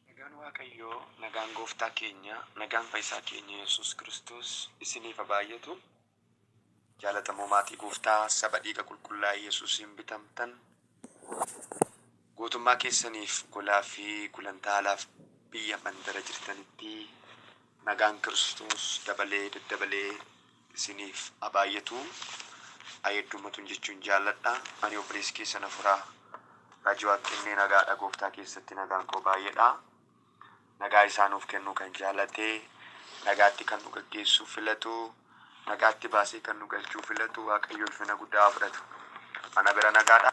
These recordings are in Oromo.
Nagaan Waaqayyoo, nagaan Gooftaa keenya, nagaan Fayyisaa keenya Yesuus Kiristoos isiniif haa baay'atu. Jaalatamoo maatii Gooftaa, saba dhiiga qulqullaa'e Yesuusiin bitamtan, Guutummaa keessaniif, golaa fi gulantaa alaaf biyya mandara jirtanitti nagaan Kiristoos dabalee daddabalee isiniif haa baay'atu. Ayedduu Matuun jechuun jaalladha. Ani obboleessi keessan hafuraa Raajii Waaqkennee nagaadha gooftaa keessatti nagaan koo baay'eedha. Nagaa isaa nuuf kennuu kan jaalate, nagaatti kan nu gaggeessuu filatu, nagaatti baasee kan nu galchuu filatu Waaqayyo ulfina guddaa haa fudhatu. Ana bira nagaadha.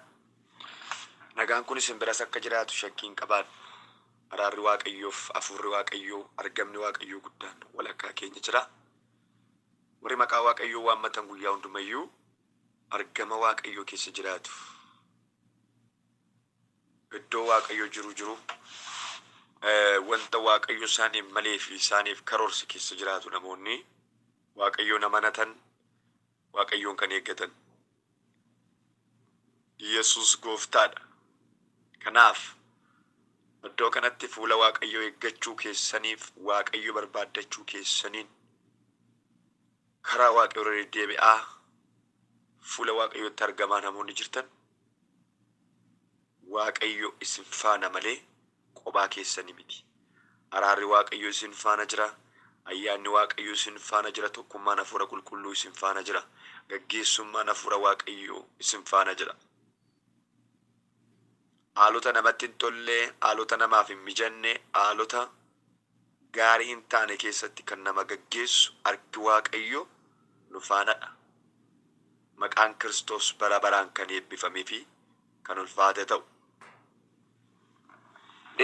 Nagaan kun isin biras akka jiraatu shakkii hin qabaadhu. Araarri Waaqayyoof Hafuurri Waaqayyoo, argamni Waaqayyoo guddaan walakkaa keenya jira. Warri maqaa Waaqayyoo waammatan guyyaa hundumayyuu argama Waaqayyoo keessa jiraatu. Iddoo Waaqayyo jiru jiru, wanta Waaqayyo isaaniif malee fi isaaniif karoorse keessa jiraatu namoonni Waaqayyoon amanatan, Waaqayyoon kan eeggatan. Yesus gooftaadha. Kanaaf iddoo kanatti fuula Waaqayyoo eeggachuu keessaniif Waaqayyo barbaaddachuu keessaniin karaa Waaqayyo irra deddeebi'aa fuula Waaqayyootti argamaa namoonni jirtan Waaqayyo isin faana malee qobaa keessani miti. Araarri Waaqayyo isin faana jira. Ayyaanni Waaqayyo isin faana jira. Tokkummaan Hafuura Qulqulluu isin faana jira. Gaggeessummaan Hafuura Waaqayyo isin faana jira. Haalota namatti hin tolle, haalota namaaf hin mijanne, haalota gaarii hin taane keessatti kan nama gaggeessu arki Waaqayyo nu faana dha. Maqaan Kiristoos bara baraan kan eebbifame fi kan ulfaate ta'u.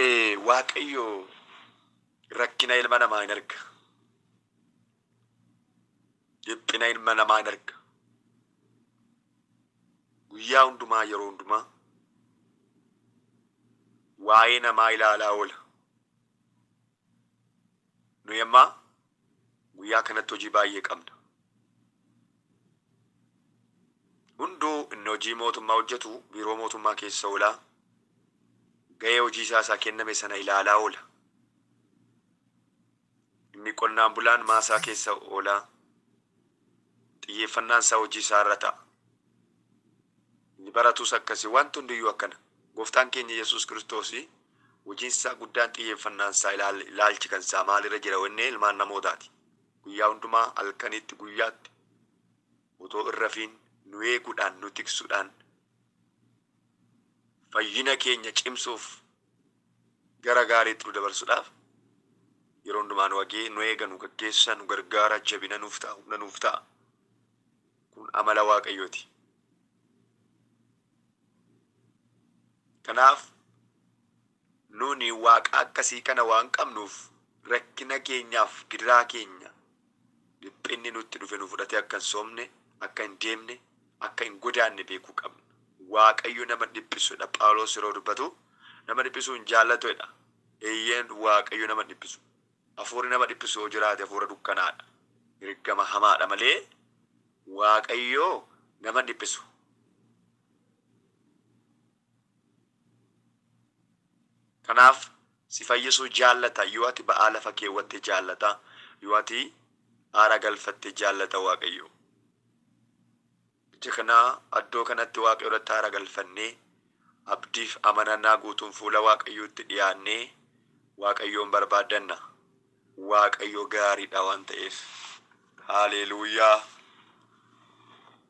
Ee, Waaqayyo rakkina ilma namaa in arga. Dhiphina ilma namaa in arga. Guyyaa hundumaa yeroo hundumaa waa'ee namaa ilaalaa oola. Nuyi amma guyyaa kanatti hojii baay'ee qabna. Hunduu inni hojii mootummaa hojjetu biiroo mootummaa keessa oolaa, ga'ee hojii isaa isaa kenname sana ilaalaa oola. Inni qonnaan bulaan maasaa keessa oolaa, Xiyyeeffannaan isaa hojii isaa irra ta'a. Inni baratus akkasi. Wanti hundi iyyuu akkana. Gooftaan keenya Yesuus Kiristoos hojiin isaa guddaan xiyyeeffannaan isaa ilaal, ilaalchi kan isaa maal irra jira yoo jennee ilmaan namootaati. Guyyaa hundumaa halkaniitti guyyaatti otoo hin rafiin nu eeguudhaan, nu tiksuudhaan, fayyina keenya cimsuuf gara gaariitti nu dabarsudhaaf yeroo hundumaa nu agee nu eega nu gaggeessa nu gargaara jabina nuuf ta'a humna nuuf ta'a kun amala waaqayyooti kanaaf nuni waaqa akkasii kana waan qabnuuf rakkina keenyaaf gidiraa keenya Dhiphinni nutti dhufe nu fudhatee akka hin soomne, akka hin deemne, akka hin godaanne beekuu qabna. Waaqayyo nama dhiphisu dha. Phaawulos yeroo dubbatu, Nama dhiphisuu hin jaallatu jedha. Eeyyeen, Waaqayyo nama hin dhiphisu. Hafuurri nama dhiphisu yoo jiraate hafuura dukkanaa dha, ergama hamaa dha malee Waaqayyo nama hin dhiphisu. Kanaaf si fayyisuu jaallata yoo ati ba'aa lafa keewwatte jaallata yoo ati aara galfatte jaallata waaqayyo ija kanaa addoo kanatti waaqayyo irratti aara galfannee abdiif amanannaa guutuun fuula waaqayyootti dhiyaannee waaqayyoon barbaaddanna waaqayyo gaariidha waan ta'eef haaleeluuyaa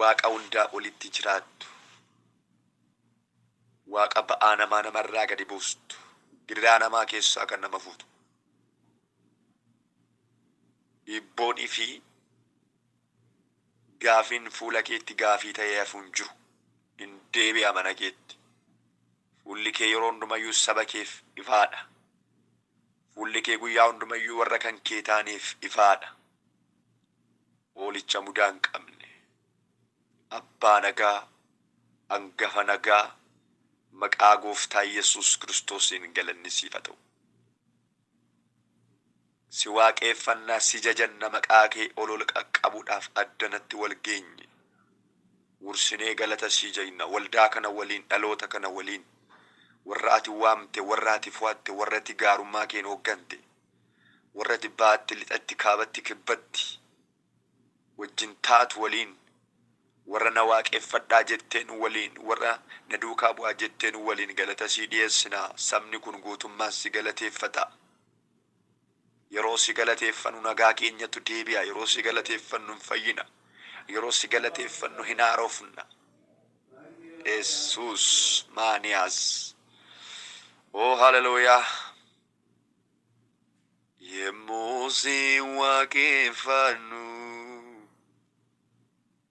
Waaqa hundaa olitti jiraattu, Waaqa ba'aa namaa nama irraa gadi buustu, gidiraa namaa keessaa kan nama fuutu, dhiibboonii fi gaafiin fuula keetti gaafii ta'ee hafu hin jiru, in deebi'a mana keetti, fuulli kee yeroo hundumayyuu saba keef ifaa dha, Fuulli kee guyyaa hunduma iyyuu warra kan kee taaneef ifaa dha. Hoolicha mudaa hin qabne, Abbaa nagaa, Angafa nagaa, maqaa Gooftaa Yesuus Kiristoosiin galanni siif haa ta'u. Si waaqeeffanna, si jajanna, maqaa kee ol ol qaqqabuudhaaf addanatti wal geenye. Wursinee galata sii jajna waldaa kana waliin dhaloota kana waliin warra ati waamte warra ati fo'atte warra ati gaarummaa keen hooggante warra ati baatti lixatti kaabatti kibbatti wajjin taatu waliin warra na waaqeffadhaa jetteen waliin warra na duukaa bu'aa jetteen waliin galata sii dhiyeessina sabni kun guutummaan si galateeffata. Yeroo si galateeffannu nagaa keenyatu deebi'a, yeroo si galateeffannu hin fayyina, yeroo si galateeffannu hin haarofna. Yesuus maaniyaas. Oo haleluuyaa! Yemmuu si waaqeffannu.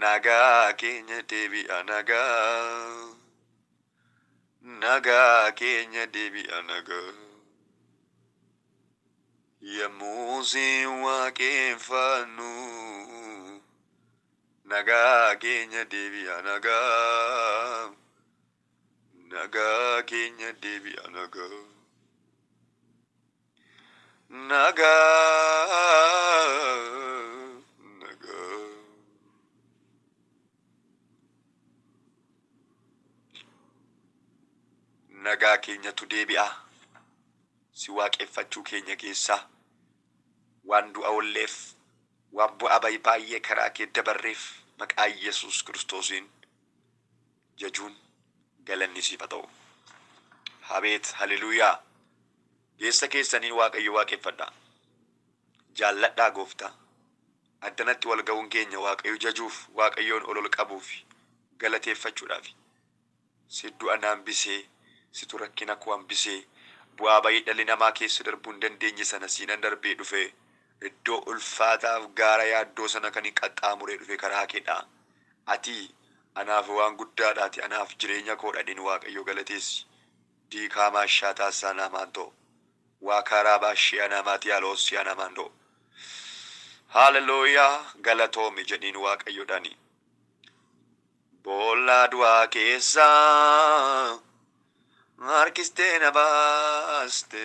Nagaa keenya deebi'a nagaa Nagaa keenya deebi'a nagaa Yommuu si waaqeffannu Nagaa keenya deebi'a nagaa Nagaa keenya deebi'a nagaa Nagaa nagaa nagaa keenyatu deebi'a si waaqeffachuu keenya keessaa waan du'a olleef waan bu'aa bayi baay'ee karaa kee dabarreef maqaa Yesuus Kiristoosiin jajuun galanni siif ha ta'u. Abeet haleluyaa Geessa keessaniin waaqayyo waaqeffadha jaalladhaa gooftaa Addanatti wal ga'uun keenya waaqayyo jajuuf waaqayyoon ol ol qabuufi galateeffachudhaafi Si du'a na hambisee situ rakkina koo hambisee bu'aa bay'ee dhalli namaa keessa darbuu hin dandeenye sana siinan darbee dhufee iddoo ulfaataaf gaara yaaddoo sana kanin qaxxaamuree dhufe karaa keedha Ati anaaf waan guddaadha ati anaaf jireenya koodha dhin waaqayyo galateessi diikaamaa shaa taassaa naamaan too waakaa raabaa shee anaamaa tiyaa loossii anaamaan doo hallelujah galatoomi jedhiin waaqayyo dhani boollaa du'aa keessaa harkistee na baaste.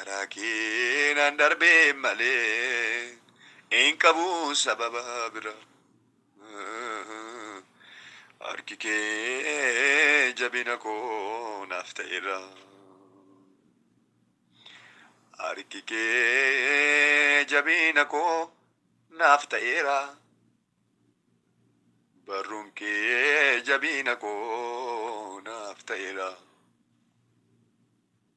Karaa keenan darbee malee hin qabu sababa bira. Harki kee jabina koo naaf ta'eera. Harki kee jabina koo naaf ta'eera. Barruun kee jabina koo naaf ta'eera.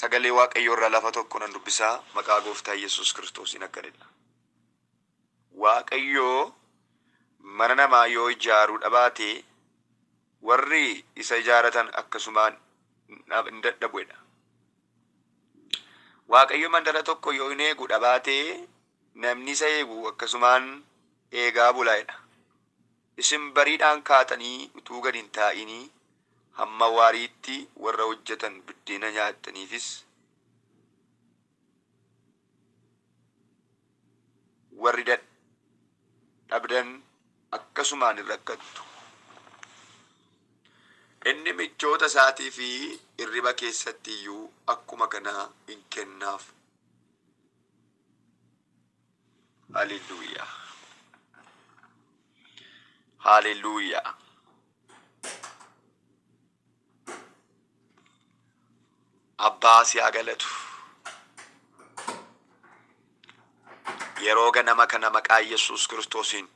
Sagalee Waaqayyoo irraa lafa tokko nan dubbisa, maqaa Gooftaa Yesuus Kiristoosiin akkan jedha. Waaqayyo mana namaa yoo ijaaruu dhabaate warri isa ijaaratan akkasumaan dhab- hin dadhabu jedha. Waaqayyo mandara tokko yoo hin eegu dhabaate namni isa eegu akkasumaan eegaa bula jedha. Isin bariidhaan kaatanii utuu gad hin taa'inii hamma waariitti warra hojjetan biddeena nyaattaniifis, warri dadhabdan akkasumaan in rakkattu. Inni michoota isaatii fi irriba keessatti iyyuu akkuma kanaa in kennaaf. Hallelujah. Hallelujah. Abbaa si haa galatu. Yeroo ganama kana maqaa Yesuus Kiristoosiin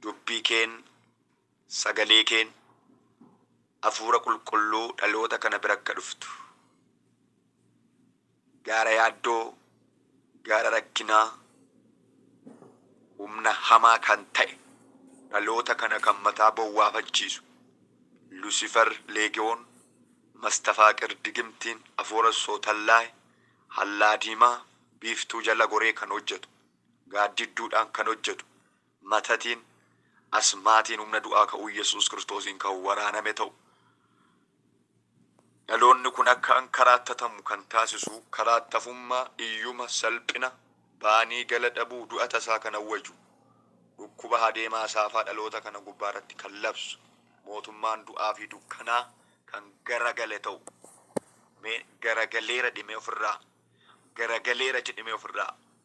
dubbii keen Sagaleekeen, Hafuura Qulqulluu dhaloota kana bira akka dhuftu, gaara yaaddoo, gaara rakkinaa, humna hamaa kan ta'e, dhaloota kana kan mataa bowwaafachiisu, Lusifer Leegewoon, Mastafaaqir Digimtiin, Afuura Sootallaay, Hallaa Diimaa, Biiftuu jala goree kan hojjetu, gaaddidduudhaan kan hojjetu, matatiin, asmaatiin humna du'aa ka'uu Yesuus Kiristoosiin kan waraaname ta'u. Dhaloonni kun akka an karaattatamu kan taasisu karaattafummaa, iyyuma, salphina, baanii gala dhabuu, du'a tasaa kan awwaju, dhukkuba hadeemaa saafaa dhaloota kana gubbaa irratti kan labsu, mootummaan du'aa fi dukkanaa kan garagale ta'u. Mee garagaleera dhimee ofirraa, garagaleera jedhimee ofirraa.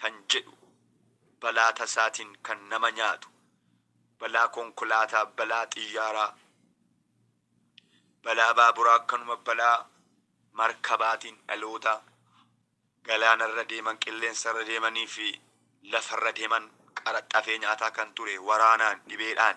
kan jedhu balaa tasaatiin kan nama nyaatu, balaa konkolaataa, balaa xiyyaaraa, balaa baaburaa akkanuma balaa markabaatiin dhaloota galaanarra deeman, qilleensarra deemaniifi lafarra deeman qaraxxafee nyaataa kan ture waraanaan, dhibeedhaan,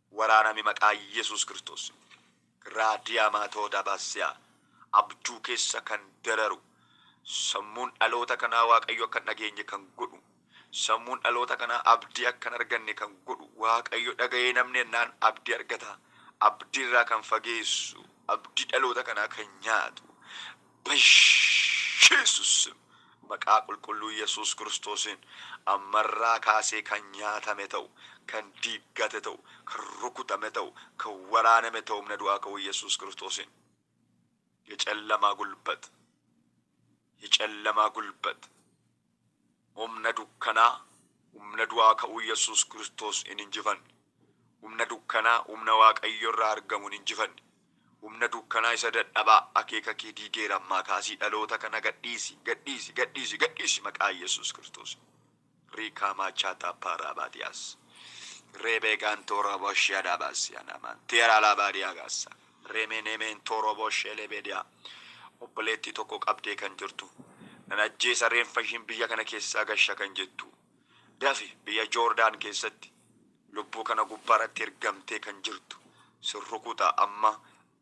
Waraanami maqaa yesus kirstoosin. Raadiyaamaatoodaabaasiyaa abjuu keessa kan dararu sammuun dhaloota kanaa waaqayyo akka hin dhageenye kan godhu sammuun dhaloota kanaa abdii akka hin arganne kan godhu waaqayyo dhaga'ee namni ennaan abdii argata abdii irraa kan fageessu abdii dhaloota kanaa kan nyaatu Baiyesus sim. Maqaa qulqulluu yesus kiristoosin ammarraa kaasee kan nyaatame ta'u kan diiggate ta'u kan rukutame ta'u kan waraaname ta'u humna du'aa ka'uu yesus kiristoosin Yecallamaa gulbat Yecallamaa gulbat Humna dukkanaa, humna du'aa ka'uu Yesuus Kiristoos hin injifanne. Humna dukkanaa, humna Waaqayyo irraa argamu hin injifanne. Humna dukkanaa isa dadhabaa, akeeka kee diigeera ammaa kaasii dhaloota kana gadhiisi, gadhiisi, gadhiisi, gadhiisi maqaa Yesuus Kiristoosiin. Riikaa maachaa taappaa raabaatiyaas. Reebee gaantoo raabashyaa daabaasiyaa naamaan teeraa laabaadiyaa gaassaa. Remenementoo Robo Shelebedia obboleettii tokko qabdee kan jirtu nan ajjeesa reenfa ishiin biyya kana keessaa gasha kan jettu dafi biyya Joordaan keessatti lubbuu kana gubbaarratti ergamtee kan jirtu sin rukuta amma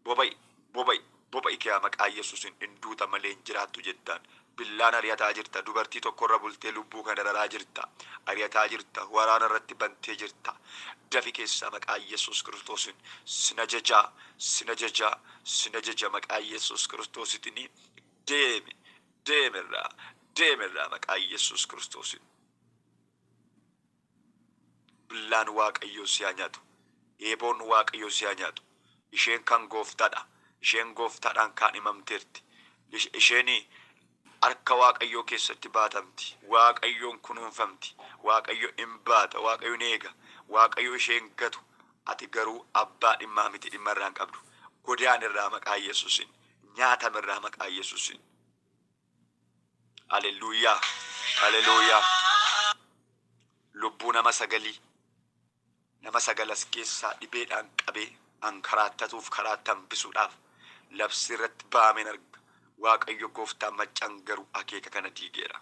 boba'i boba'i boba'i kiyaa maqaa Yesuusin in duuta malee hin jiraattu jettaan Billaan ari'ataa jirta, dubartii tokkorra bultee lubbuu kana dararaa jirta, ari'ataa jirta, waraana irratti bantee jirta, dafi keessaa maqaa Yesuus Kiristoosiin sin ajaja, sin ajaja, sin ajaja maqaa Yesuus Kiristoositiin deemi, deemi irraa, deemi irraa maqaa Yesuus Kiristoosiin. Billaan Waaqayyoo si haa nyaatu. Eeboon Waaqayyoo si haa nyaatu. Isheen kan Gooftaadha. Isheen Gooftaadhaan kaadhimamteerti. Ish, isheen harka Waaqayyoo keessatti baatamti. Waaqayyoon kunuunfamti. Waaqayyo in baata. Waaqayyo in eega. Waaqayyo ishee hin gatu. Ati garuu abbaa dhimmaa miti, dhimma irraa hin qabdu. Godaanirraa maqaa Yesuusiin. Nyaatamirraa maqaa Yesuusiin. Alelluuyyaa Alelooyaa Lubbuu nama sagalii nama sagal as keessaa dhibeedhaan qabee an karaattatuuf karaatti hambisuudhaaf labsii irratti ba'ameen arga. Waaqayyo gooftaan maccaan garuu akeeka kana diigeera.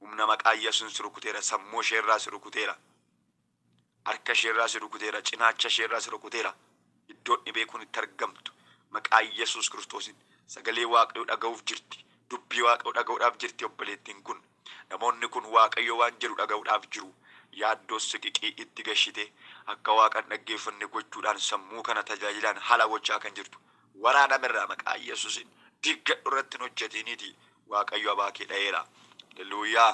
Humna maqaa Yesuun si rukuteera sammuu ishee irraa si rukuteera harka ishee irraa si rukuteera cinaacha ishee irraa si rukuteera iddoo inni beekuun itti argamtu maqaa Yesuus Kiristoosiin sagalee waaqayyoo dhaga'uuf jirti dubbii waaqayyoo dhaga'uudhaaf jirti obboleettiin kun namoonni kun waaqayyoo waan jedhu dhaga'uudhaaf jiru yaaddoo siqiqii itti gashitee akka waaqan dhaggeeffanne gochuudhaan sammuu kana tajaajilaan hala gochaa kan jirtu waraaname irraa maqaa yesusin diggadhu irratti hin hojjetiiniitii waaqayyo abaa kee dhayeera haleluuyaa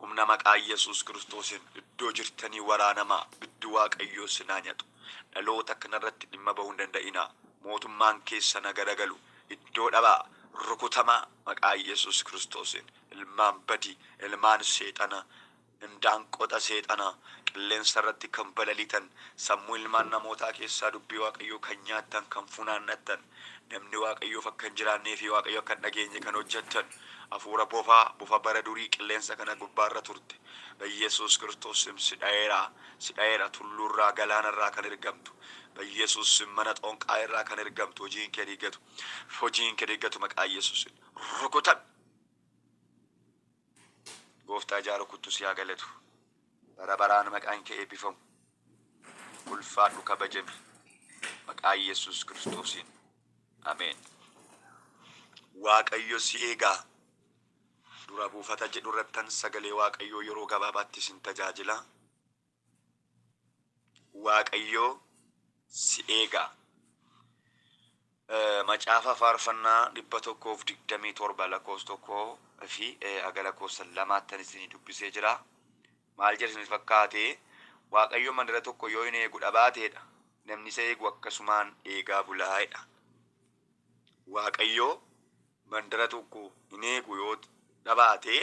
humna maqaa yesus kiristoosin iddoo jirtanii waraanamaa biddi waaqayyoo sinaa nyatu dhaloota kanarratti dhimma bahuu hin danda'inaa mootummaan keessa na garagalu iddoo dhabaa rukutamaa maqaa yesus kiristoosin ilmaan badii ilmaan seexana Indaanqoota seexanaa qilleensa irratti kan balaliitan, sammuu ilmaan namootaa keessaa dubbii Waaqayyoo kan nyaattan, kan funaannattan, namni Waaqayyoof akka hin jiraannee fi Waaqayyo akka hin dhageenye kan hojjettan, hafuura bofaa, bofa bara durii qilleensa kana gubbaa irra turte, Ba'iyesuus Kiristoos sim si dha'eera, si dha'eera, tulluu irraa, galaana irraa kan ergamtu, Ba'iyesuus sim mana xoonqaa'ee irraa kan ergamtu, hojiin kee diigatu, hojiin kee diigatu maqaa Yesuusiin. Rukutame! Gooftaa ijaa rukuttu si haa galatu. Bara baraan maqaan kee eebbifamu. Ulfaadhu kabajami. Maqaa Yesus Kiristoosiin. Ameen. Waaqayyo si eegaa. Dura buufata jedhu irrattan sagalee Waaqayyoo yeroo gabaabaatti isin tajaajila. Waaqayyoo si eegaa. Macaafa faarfannaa 127 lakkoofsa tokko fi haga lakkoofsa lamaattan isinii dubbisee jira. Maal jedha isinii fakkaate? Waaqayyo mandara tokko yoo hin eegu dhabaateedha. Namni isa eegu akkasumaan eegaa bulaa'edha. Waaqayyo mandara tokko hin eegu yoo dhabaate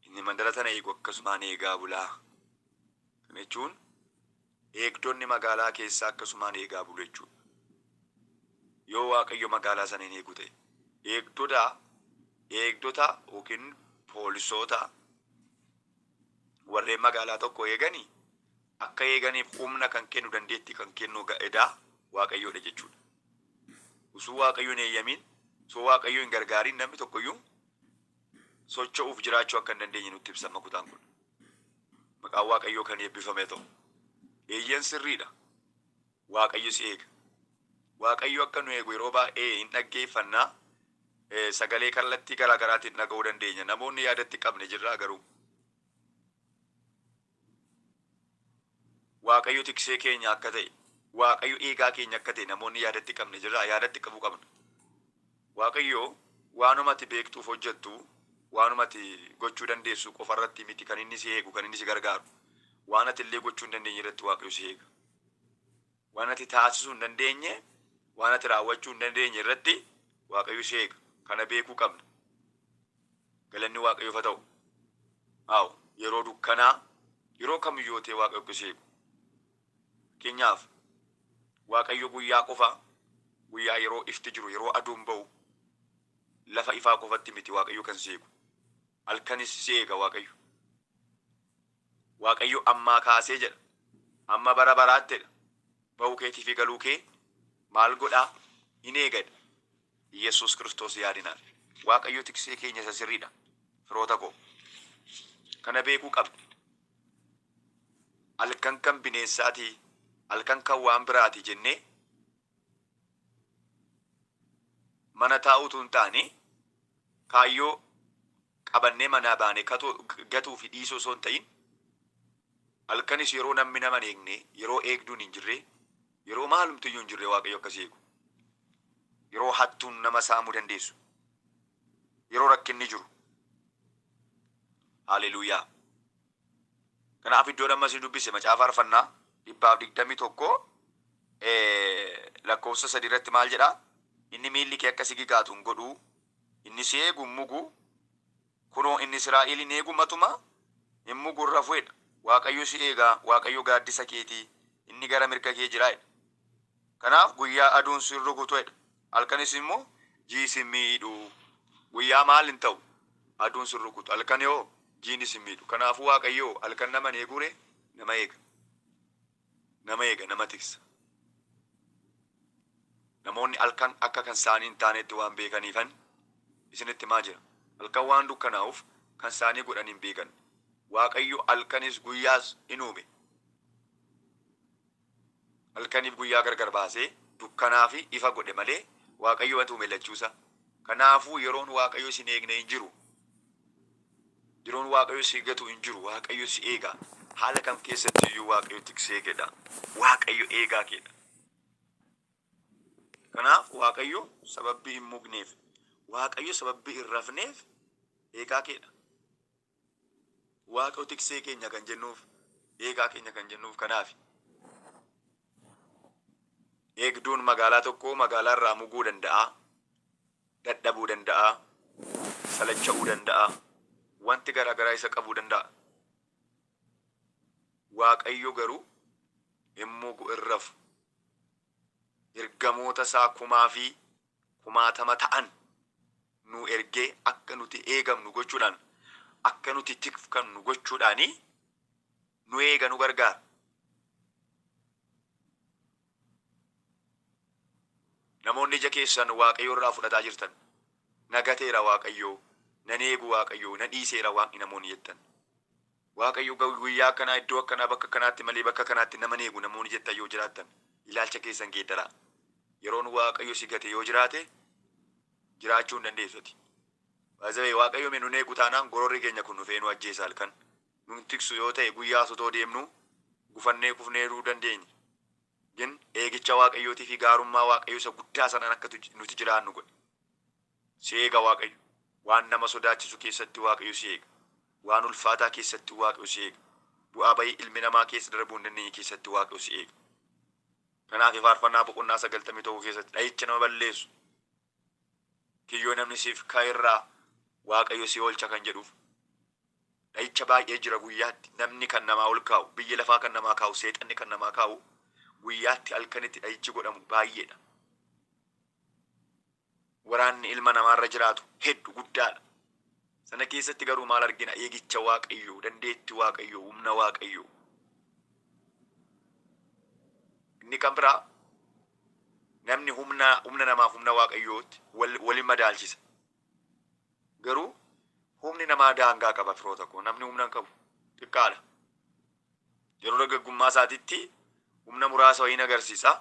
Inni mandara sana eegu akkasumaan eegaa bula. Kana jechuun eegdonni magaalaa keessaa akkasumaan eegaa bulu jechuudha. Yoo Waaqayyo magaalaa sana hin eegu ta'e, eegdota eegdota yookiin poolisoota warreen magaalaa tokko eegani akka eeganiif humna kan kennu dandeettii kan kennu ga- edaa Waaqayyoodha jechuudha. Osoo Waaqayyo hin eeyyamiin, osoo Waaqayyo hin gargaariin namni tokkoyyuu socho'uuf jiraachuu akka hin dandeenye nutti ibsa amma kutaan kun. Maqaan Waaqayyoo kan eebbifame ta'u. Eeyyeen sirriidha. Waaqayyo si eega. Waaqayyo akka nu eegu yeroo baay'ee hin dhaggeeffanna. Eh, Sagalee kallattii garaa garaatiin dhaga'uu dandeenya. Namoonni yaadatti qabne jirraa garuu. Waaqayyo tiksee keenya akka ta'e, Waaqayyo eegaa keenya akka ta'e namoonni yaada itti qabne jirraa? Yaada itti qabuu qabna. Waaqayyo waanuma ati beektuuf hojjettu, waanuma ati gochuu dandeessu qofa irratti miti kan inni si eegu, kan inni si gargaaru. Waan ati illee gochuu hin dandeenye irratti Waaqayyo si eega. Waan ati taasisuu hin dandeenye, waan ati raawwachuu hin dandeenye irratti Waaqayyo si eega. Kana beekuu qabna. Galanni Waaqayyoof haa ta'u. Waaw! Yeroo dukkanaa, yeroo kam yoo ta'e Waaqayyo akka si eegu. Fakkeenyaaf, Waaqayyo guyyaa qofa, guyyaa yeroo ifti jiru, yeroo aduun ba'u, lafa ifaa qofatti miti Waaqayyo kan si eegu. Halkanis si eega Waaqayyo. Waaqayyo ammaa kaasee jedha, hamma bara baraatti jedha, ba'uu keetii fi galuu kee maal godhaa? In eega jedha. Iyyesuus Kiristoos yaadinaan. Waaqayyo tiksee keenya isa sirrii dha, firoota koo. Kana beekuu qabna. Halkan kan bineensaa ti, halkan kan waan biraa ti jennee mana taa'uu utuu hin taane, kaayyoo qabannee manaa baane katoo gatuu fi dhiisuu osoo hin ta'in halkanis yeroo nammi nama hin eegne, yeroo eegduun hin jirre, yeroo maalumtu iyyuu hin jirre Waaqayyo akka si eegu, yeroo hattuun nama saamuu dandeessu, yeroo rakkinni jiru. Haleluuyaa! Kanaaf iddoon amma isin dubbise macaafa Faarfannaa dhibbaaf digdamii tokko lakkoofsa sadii irratti maal jedha? Inni miilli kee akka si gigaatu hin godhu, inni si eegu hin mugu, kunoo inni Israa'el hin eegu matuma hin mugu hin rafu jedha. Waaqayyo si eega, Waaqayyo gaaddisa keeti, inni gara mirga kee jira jedha. Kanaaf guyyaa aduun si hin rukutu jedha. Halkanis immoo ji'i sin miidhu. Guyyaa maal hin ta'u? Aduun sin rukutu. Halkani hoo? Jiini sin miidhu. Kanaafuu Waaqayyo hoo? Halkan nama hin eeguu ree? Nama eega. Nama eega, nama tiksa. Namoonni halkan akka kan isaanii hin taanetti waan beekaniifan isinitti himaa jira. Halkan waan dukkanaa'uuf kan isaanii godhanii hin beekan. Waaqayyo halkanis guyyaas in uume. Halkaniif guyyaa gargar baasee, dukkanaa fi ifa godhe malee, Waaqayyo wanta uume lachuu isaa. Kanaafuu yeroon Waaqayyo isin eegne hin jiru. Yeroon Waaqayyo si gatu hin jiru. Waaqayyo si eega. Haala kam keessatti iyyuu Waaqayyo tiksee kee dha. Waaqayyo eegaa kee dha. Kanaaf Waaqayyo sababbii hin mugneef, Waaqayyo sababbii hin rafneef eegaa kee dha. Waaqayyo tiksee keenya kan jennuuf, eegaa keenya kan jennuuf kanaafi. Eegduun magaalaa tokkoo magaalaa irraa muguu danda'a, dadhabuu danda'a, salacha'uu danda'a, wanti garaa garaa isa qabuu danda'a. Waaqayyo garuu hin mugu, hin rafu. Ergamoota isaa kumaa fi kumaatama ta'an nuu ergee akka nuti eegamnu gochuudhaan, akka nuti tikfkamnu gochuudhaan nu eega, nu gargaara. Namoonni ija keessan Waaqayyo irraa fudhataa jirtan, na gateera Waaqayyo, nan eegu Waaqayyo, na dhiiseera Waaqni namoonni jettan. Waaqayyo guyyaa akkanaa iddoo akkanaa bakka akkanaatti malee bakka kanaatti nama hin eegu namoonni jettan yoo jiraattan ilaalcha keessan geeddaraa. Yeroon Waaqayyo si gate yoo jiraate jiraachuu hin dandeessu ati. By the way Waaqayyo me nun eegu taanaan gororri keenya kun dhufee nu ajjeesa halkan. Nun tiksu yoo ta'e guyyaas otoo deemnuu gufannee kufnee du'uu dandeenya. Gin eegicha Waaqayyootii fi gaarummaa Waaqayyo isa guddaa sanaan akka nuti jiraannu godhe. Si eega Waaqayyo. Waan nama sodaachisu keessatti Waaqayyo si eega. Waan ulfaataa keessatti Waaqayyo si eega. Bu'aa ba'ii ilmi namaa keessa darbuu hin dandeenye keessatti Waaqayyo si eega. Kanaafi Faarfannaa boqonnaa 91 keessatti dha'icha nama balleessu kiyyoo namni siif ka'e irraa Waaqayyo si oolcha kan jedhuuf dha'icha baay'ee jira guyyaatti namni kan namaa ol kaa'u biyyi lafaa kan namaa kaa'u seexanni kan namaa kaa'u guyyaatti halkanitti dha'ichi godhamu baay'eedha. Waraanni ilma namaa irra jiraatu heddu, guddaadha. Sana keessatti garuu maal argina? Eegicha Waaqayyoo, dandeetti Waaqayyoo, humna Waaqayyoo. Inni kan biraa namni humna humna namaaf humna Waaqayyootti wal walin madaalchisa. Garuu humni namaa daangaa qaba firoota koo. Namni humna hin qabu xiqqaadha. Yeroo dargaggummaa isaatitti humna muraasa wayiin agarsiisa.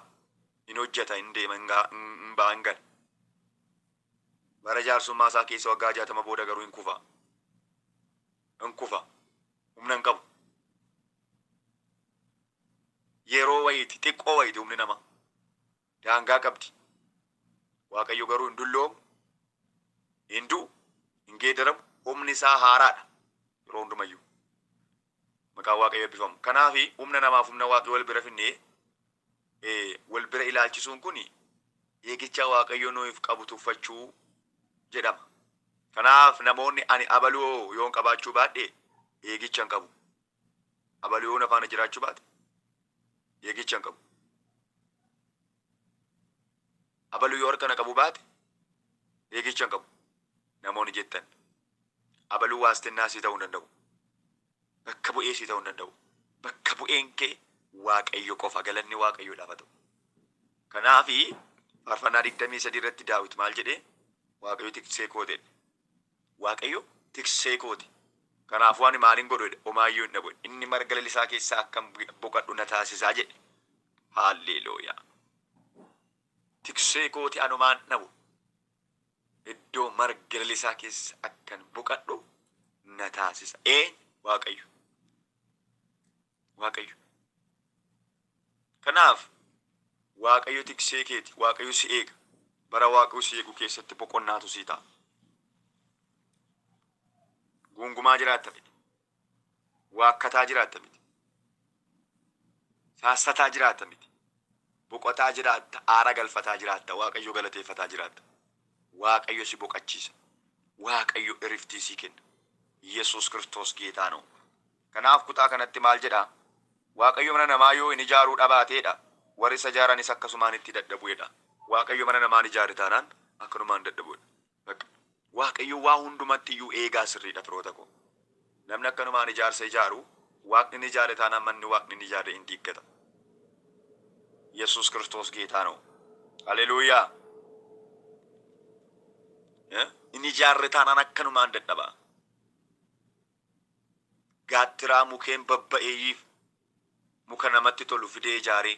in hojjeta, in deema, in gaha, in, in ba'a, in gala. Bara jaarsummaa isaa keessa waggaa jaatama booda garuu in kufa. In kufa. Humna hin qabu. Yeroo wayiiti, xiqqoo wayiiti humni namaa. Daangaa qabdi. Waaqayyo garuu hin dulloomu, hin du'u, hin geedaramu, humni isaa haaraadha. Yeroo hundumayyuu. Maqaan Waaqayyo eebbifamu. Kanaafi humna namaaf humna Waaqayyo wal bira finnee wal bira ilaalchisuun kun eegicha Waaqayyo nuuf qabu tuffachuu jedhama. Kanaaf namoonni ani abaluu yoon qabaachuu baadhe eegicha hin qabu. Abaluu yoo na faana jiraachuu baate eegicha hin qabu. Abaluu yoo harka na qabu baate eegicha hin qabu. Namoonni jettan abaluu waastinnaa sii ta'uu hin danda'u. Bakka bu'ee sii ta'uu hin danda'u. Bakka bu'een kee Waaqayyo qofa. Galanni Waaqayyoodhaaf haa ta'u. Kanaafi Faarfannaa 23 irratti Daawit maal jedhe? Waaqayyo tiksee kooti jedhe. Waaqayyo tiksee kooti. Kanaafuu ani maalin godhu jedhe? Omaayyuu hin dhabu jedhe. Inni marga lalisaa keessaa akkan boqadhu na taasisaa jedhe. Haalleelooyaa! Tiksee kooti anumaan dhabu. iddoo marga lalisaa keessa akkan boqadhu na taasisa. Eenyu? Waaqayyo. Waaqayyo. Kanaaf Waaqayyo tiksee keeti. Waaqayyo si eega. Bara Waaqayyo si eegu keessatti boqonnaatu sii ta'a. Guungumaa jiraatta miti. Waakkataa jiraatta miti. Saassataa jiraatta miti. Boqotaa jiraatta, aara galfataa jiraatta, Waaqayyo galateeffataa jiraatta. Waaqayyo si boqachiisa. Waaqayyo iriftii sii kenna. Yesuus Kiristoos Geetaa noo. Kanaaf kutaa kanatti maal jedha? Waaqayyo mana namaa yoo hin ijaaruu dhabaatee dha, warri isa ijaaranis akkasumaan itti dadhabu jedha. Waaqayyo mana namaa hin ijaarre taanaan akkanumaan dadhabu jedha. Bakka. Waaqayyo waa hundumatti iyyuu eegaa sirriidha firoota koo. Namni akkanumaan ijaarsa ijaaru, Waaqni ni ijaare taanaan manni Waaqni hin ijaarre in diiggata. Yesuus Kiristoos Geetaa noo! Haleluuyaa! Eh, Hin ijaarre taanaan akkanumaan dadhaba. Gaattiraa mukeen babba'eeyyiif Muka namatti tolu fidee ijaaree.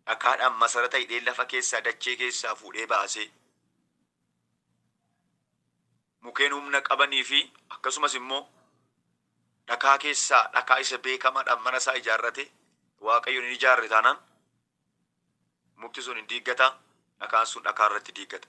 Dhakaadhaan masarata hidhee lafa keessaa dachee keessaa fuudhee baasee. Mukeen humna qabanii fi akkasumas immoo dhakaa keessaa dhakaa isa beekamaadhaan mana isaa ijaarratee Waaqayyoon hin ijaarre taanaan mukti sun hin diiggata, dhakaan sun dhakaa irratti diiggata.